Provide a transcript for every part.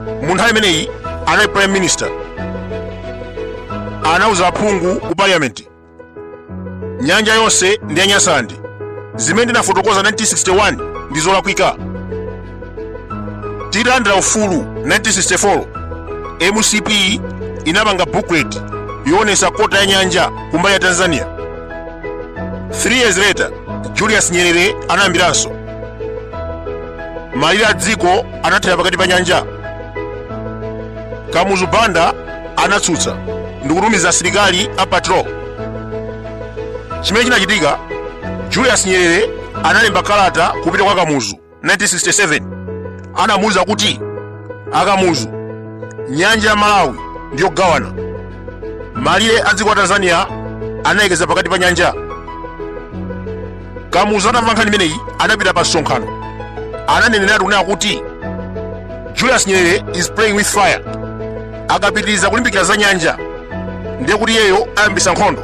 mu nthawi imeneyi anali prime minister anauza aphungu ku parliament nyanja yonse ndi ya nyasaland zimene ndinafotokoza 1961 ndi zolakwika titalandira ufulu 1964 mcp inapanga booklet yoonesa kota ya nyanja kumbali ya tanzania 3 years later julius nyerere anayambiranso malire a dziko anathera pakati pa nyanja kamuzu banda anatsutsa ndikutumiza asilikali a patrol chimene chinachitika julius nyerere analemba kalata kupita kwa kamuzu 1967 anamuuza kuti akamuzu nyanja ya malawi ndiyogawana malire a dziko la tanzania analekeza pakati pa nyanja kamuzu atamva nkhani imeneyi anapita pa msonkhano ananeneratu kunena kuti julius nyerere is playing with fire akapitiriza kulimbikira za nyanja ndiye kuti iyeyo ayambisa nkhondo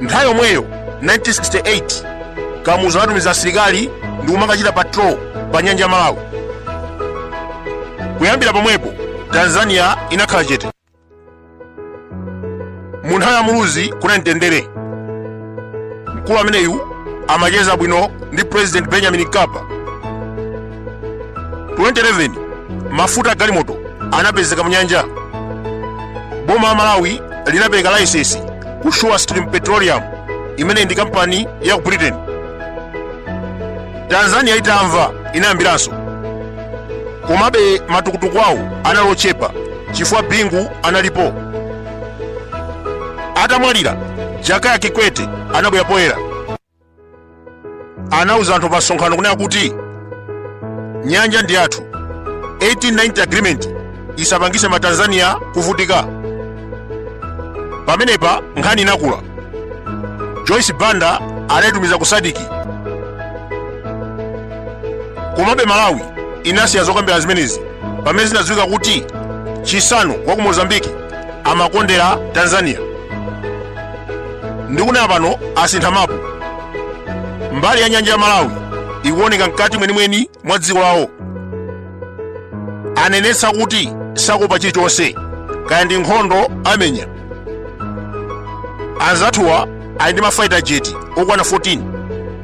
nthawi yomweyo 1968 kamuzu anatumiza asilikali ndi kumakachita patrol pa nyanja ya malawi kuyambira pomwepo tanzania inakhala chete mu nthawi ya muluzi kunali mtendere mkulu ameneyu amacheza bwino ndi president benjamin mkapa 2011 mafuta a galimoto anapezeka mu nyanja boma la malawi linapereka laisesi ku surestream petroleum imene ndi kampani ya ku britain tanzania itamva inayambiranso komabe matukutuku awo anali ochepa chifukwa bingu analipo atamwalira jakaya kikwete anabwera poyera anauza anthu pa msonkhano kunena kuti nyanja ndi yathu 1890 agreement isapangise matanzania kuvutika pamenepa nkhani inakula joyce banda anaitumiza ku sadiki komabe malawi inasiya zokambirana zimenezi pamene zinadziwika kuti chissano wa ku mozambiki amakondera tanzania ndikunena pano asintha mapu mbali ya nyanja ya malawi ikuoneka mkati mwenimweni mwa dziko lawo anenetsa kuti sakuopa chilichonse kaya ndi nkhondo amenya anzathuwa ali ndi mafaita jeti okwana 14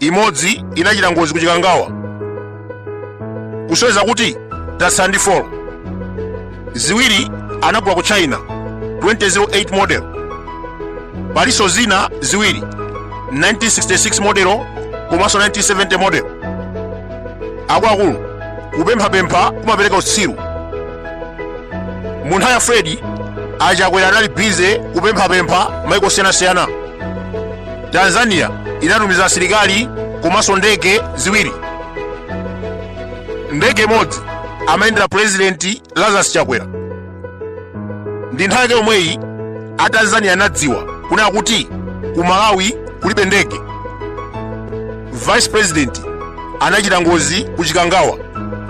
imodzi inachita ngozi ku chikangawa kusonyeza kuti tatsala ndi 4 ziwiri anagulwa ku china 2008 model palinso zina ziwiri 1966 model komanso 1970 model akuluakulu kupemphapempha kumapereka utsiru mu nthawi ya Freddy a Chakwera anali bize kupemphapempha maiko osiyanasiyana tanzania inatumiza asilikali komanso ndege ziwiri ndege imodzi amayendera purezidenti lazarus chakwera ndi nthawi yake yomweyi a tanzania anadziwa kunena kuti ku malawi kulibe ndege vice president anachita ngozi ku chikangawa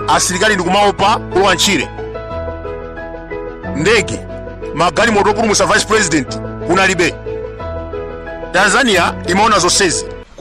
asilikali ndikumaopa kulowa ntchire ndege magalimoto opulumutsa vice president kunalibe tanzania imaona zonsezi